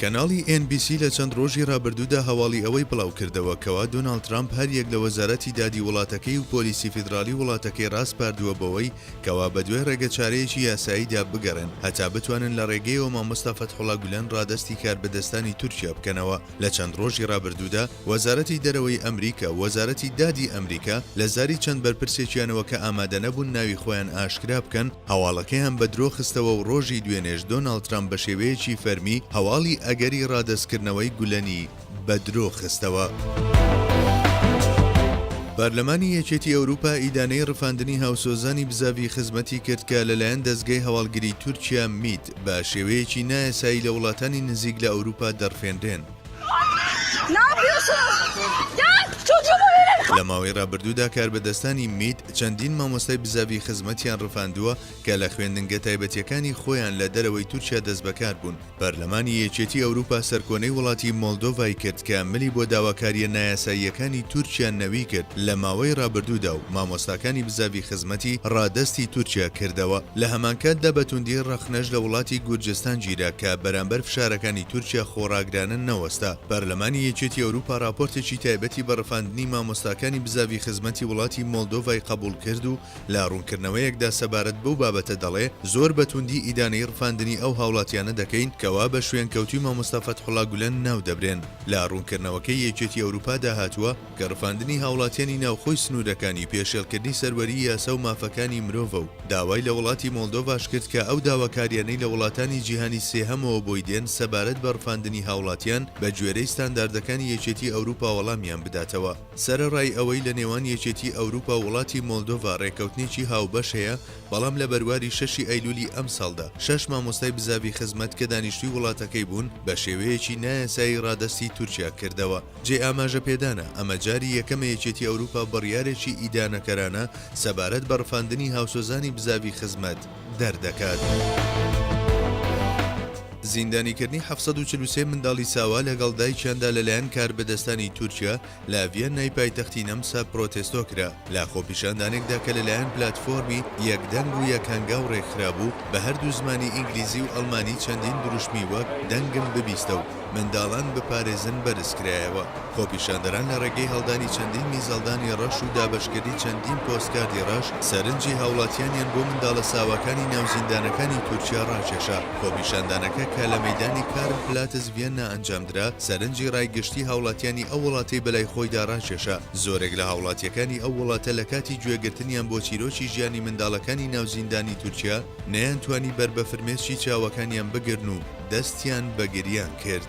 کەناڵی ئێن بی سی لە چەند ڕۆژی ڕابردوودا هەواڵی ئەوەی بڵاوکردەوە کەوا دۆناڵد ترامپ هەریەک لە وەزارەتی دادی وڵاتەکەی و پۆلیسی فیدراڵی وڵاتەکەی ڕاسپاردووە بەوەی کەوا بەدوای ڕێگەچارەیەکی یاساییدا بگەڕێن هەتا بتوانن لە ڕێگەیەوە مامۆستا فەتحوڵا گولەن ڕادەستی کاربەدەستانی تورکیا بکەنەوە لە چەند ڕۆژی ڕابردوودا وەزارەتی دەرەوەی ئەمریکا و وەزارەتی دادی ئەمریکا لە زاری چەند بەرپرسێکیانەوە کە ئامادەنەبوون ناوی خۆیان ئاشکرا بکەن هەواڵەکەیان بە درۆ خستەوە و ڕۆژی دوێنێش دۆناڵد ترەمپ بە شێوەیەکی فەرمی هەواڵی ئەگەری ڕادەستکردنەوەی گولەنی بە درۆ خستەوە. پارلەمانی یەکێتی ئەوروپا ئیدانەی ڕفاندنی هاوسۆزانی بزاڤی خزمەتی کرد کە لەلایەن دەزگای هەواڵگری تورکیا، میت، بە شێوەیەکی نایاسایی لە وڵاتانی نزیک لە ئەوروپا دەڕفێنرێن. لە ماوەی ڕابردوودا کاربەدەستانی میت چەندین مامۆستای بزاڤی خزمەتیان ڕفاندووە کە لە خوێندنگە تایبەتیەکانی خۆیان لە دەرەوەی تورکیا دەستبەکار بوون. پەرلەمانی یەکێتی ئەوروپا سەرکۆنەی وڵاتی مۆلدۆڤای کرد کە ملی بۆ داواکاریە نایاساییەکانی تورکیا نەوی کرد لە ماوەی ڕابردوودا و مامۆستاکانی بزاڤی خزمەتی ڕادەستی تورکیا کردەوە. لە هەمانکاتدا بە توندی ڕەخنەش لە وڵاتی گورجستان گیرا کە بەرامبەر فشارەکانی تورکیا خۆڕاگرانە نەوەستا. پەرلەمانی یەکێتی ئەوروپا راپۆرتێکی تایبەتی بە رفاندنی مامۆستاکانی بزاڤی خزمەتی وڵاتی مۆلدۆڤای قەبوڵ کرد و لە روونکردنەوەیەکدا سەبارەت بەو بابەتە دەڵێ زۆر بە تووندی ئیدانەی رفاندنی ئەو هاوڵاتیانە دەکەین کەوا بە شوێنکەوتووی مامۆستا فەتحوڵا گولەن ناو دەبرێن. لە روونکردنەوەکەی یەکێتی ئەوروپادا هاتووە، کە ڕفاندنی هاوڵاتیانی ناوخۆی سنوورەکانی پێشێڵکردنی سەروەریی یاسا و مافەکانی مرۆڤە و داوای لە وڵاتی مۆڵدۆڤاش کرد کە ئەو داواکارییانەی لە وڵاتانی جیهانی سێهەمەوە بۆی دێن سەبارەت بە ڕفاندنی هاوڵاتیان بە گوێرەی ستانداردەکانی یەکێتی ئەوروپا وەڵامیان بداتەوە. سەرەڕای ئەوەی لە نێوان یەکێتی ئەوروپا و وڵاتی مۆلدۆڤا ڕێککەوتنێکی هاوبەش هەیە، بەڵام لە بەرواری شەشی ئەیلوولی ئەمساڵدا شەش مامۆستای بزاڤی خزمەت کە دانیشتووی وڵاتەکەی بوون بە شێوەیەکی نایاسایی ڕادەستی تورکیا کردەوە. جێی ئاماژەپێدانە ئەمە جاری یەکەمە یەکێتی ئەوروپا بڕیارێکی ئیدانەکەرانە سەبارەت بە ڕفاندنی هاوسۆزانی بزاڤی خزمەت دەردەکات. زیندانیکردنی حەفت سەد و چل و سێ منداڵی ساوا لەگەڵ دایکیاندا لەلایەن کاربەدەستانی تورکیا لە ڤیەننای پایتەختی نەمسا پرۆتێستۆ کرا. لە خۆپیشاندانێکدا کە لەلایەن پلاتفۆرمی، یەک دەنگ و یەک هەنگاو، ڕێکخرابوو، بە هەردوو زمانی ئینگلیزی و ئەڵمانی چەندین دروشمی وەک، دەنگم ببیستە و منداڵان بپارێزن بەرزکرایەوە. خۆپیشاندەران لە ڕێگەی هەڵدانی چەندین میزەڵدانی ڕەش و دابەشکردنی چەندین پۆستکاردی ڕەش، سەرنجی هاوڵاتیانیان بۆ منداڵە ساواکانی ناو زیندانەکانی تورکیا ڕاکێشا. خۆپیشاندانەکە کە لە مەیدانی کارل پلاتز ڤیەننا ئەنجامدرا، سەرنجی ڕای گشتیی هاوڵاتیانی ئەو وڵاتەی بەلای خۆیدا ڕاکێشا. زۆرێک لە هاوڵاتییەکانی ئەو وڵاتە لە کاتی گوێگرتنیان بۆ چیرۆکی ژیانی منداڵەکانی ناو زیندانی تورکیا، نەیانتوانی بەر بە فرمێسکی چاوەکانیان بگرن و دەستیان بە گریان کرد.